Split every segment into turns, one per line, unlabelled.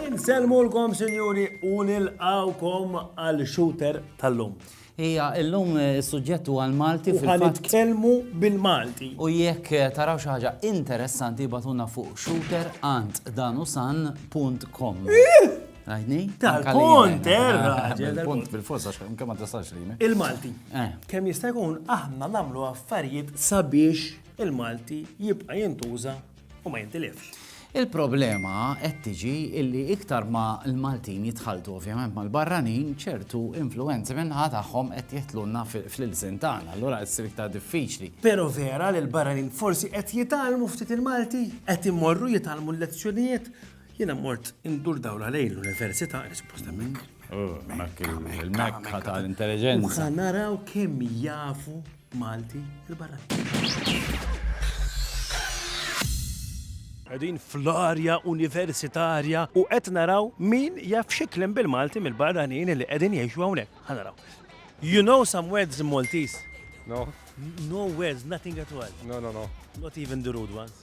Insellmulkom sinjuri u nilqgħukom għal shooter tal-lum. Hija illum
is-suġġett huwa l-Malti fil-fatt. U ħa nitkellmu
bil-Malti. U jekk
taraw xi ħaġa interessanti jbatuna fuq shooter ant danusan.com. Għajni? Tal-punt,
erra! Punt
bil-fors, għax kemm ma tistax li. Il-Malti. Eh.
Kemm jista' jkun aħna nagħmlu affarijiet sabiex il-Malti jibqa' jintuża u ma jintilifx. Il-problema
qed tiġi illi iktar ma l-Maltin jitħalltu ovvjament mal-barranin, ċertu influwenzi min-naħa tagħhom qed jidħlulna fl-ilsien tagħna, allura qed issir iktar diffiċli. Però vera li
l-barranin forsi qed jitgħallmu ftit il-Malti? Qed imorru jitgħallmu l-lezzjonijiet? Jiena mort indur dawl għalejn l-università, li suppost hemmhekk. Oh, hemmhekk
il-mekka tal-intelliġenza. Ħa naraw
kemm jafu Malti il-barranin. Qegħdin fl-arja universitarja u qed naraw min jaf xiklem bil-Malti mill-barranin li qegħdin jgħixu hawnhekk. Ħanaraw. You know some words in Maltese? No.
No words,
nothing at all. No, no, no. Not
even the
rude ones.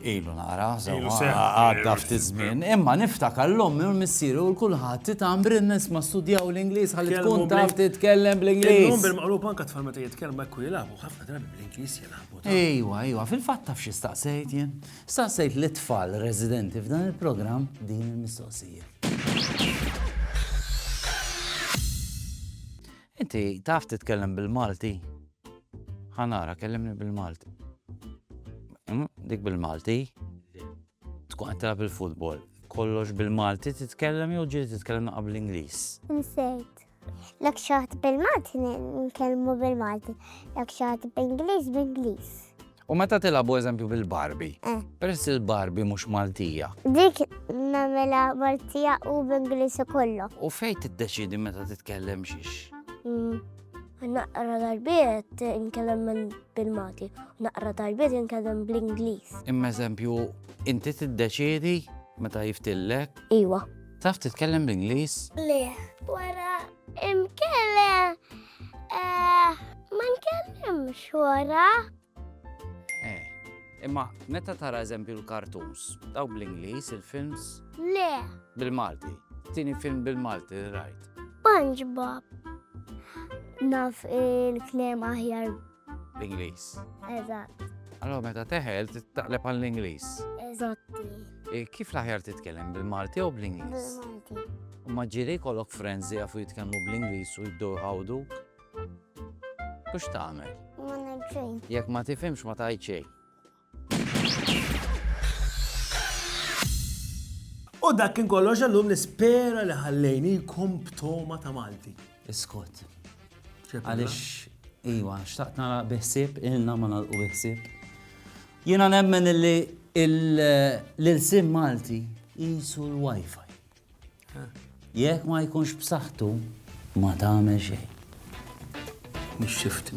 Ilu nara, għadda ftit żmien. Imma niftakar l-ommi u l-missieru u l-kulħadd titam brinnes ma studjaw l-Ingliż ħalli tkun taf titkellem bl-Ingliż. Illum bil-maqlub
anke
tfal meta
jitkellmu hekk u jilagħbu ħafna drabi bl-Ingliż jilagħbu. Ejwa, ejwa, fil-fatt
taf xi staqsejt jien. Staqsejt li tfal residenti f'dan il-programm din il-mistoqsija. Inti taf titkellem bil-Malti? Ħa nara, kellimni bil-Malti. Mm, dik bil-Malti? Tkun qed tilgħab il-futbol. Kollox bil-Malti titkellem jew ġieli titkellem naqab l-Ingliż? Nsejt.
Lek xaħat bil-Malti nkellmu bil-Malti, lek xaħat bil-Ingliż bil-Ingliż. U meta
tilgħabu eżempju bil-Barbie? Eh. Peress li l-Barbie mhux Maltija. Dik
nagħmilha Maltija u b'Ingliż ukoll. U fejn tiddeċidi
meta titkellem xiex? Mm.
Naqra darbiet inkellem bil-Malti, naqra darbiet inkellem bl-Ingliż. Imma eżempju,
inti tiddeċidi meta jiftillek? Iwa. Taf
titkellem
bl-Ingliż? Le,
wara imkellem Eh, ma nkellimx wara. Eh,
imma meta tara eżempju l-kartons, daw bl-Ingliż, il-films? Le.
Bil-Malti.
Tini film bil-Malti rajt. SpongeBob.
Naf il-klem aħjar L-Ingliż.
Eżatt.
Allora meta
teħel taqleb għall-Ingliż. Eżatti.
E, kif
l-aħjar titkellem bil-Malti u bl-Ingliż?
Bil-Malti. Ma ġiri
kollok friends li jafu jitkellmu bl-Ingliż u jiddu għawdu? Kux tagħmel? Ma nagħmel
Jekk ma tifhimx ma
tajt xejn.
U dak kien kollox għallum nispera li ħallejnikom b'toma ta' Malti. Iskot.
Għalix, iwa, xtaqt nara biħsib, ilna ma nalqu biħsib. Jena nemmen li l-sim Malti jisu l-Wi-Fi. Jek ma jkunx b'saħħtu
ma
tagħmel xejn. Mhix xifti,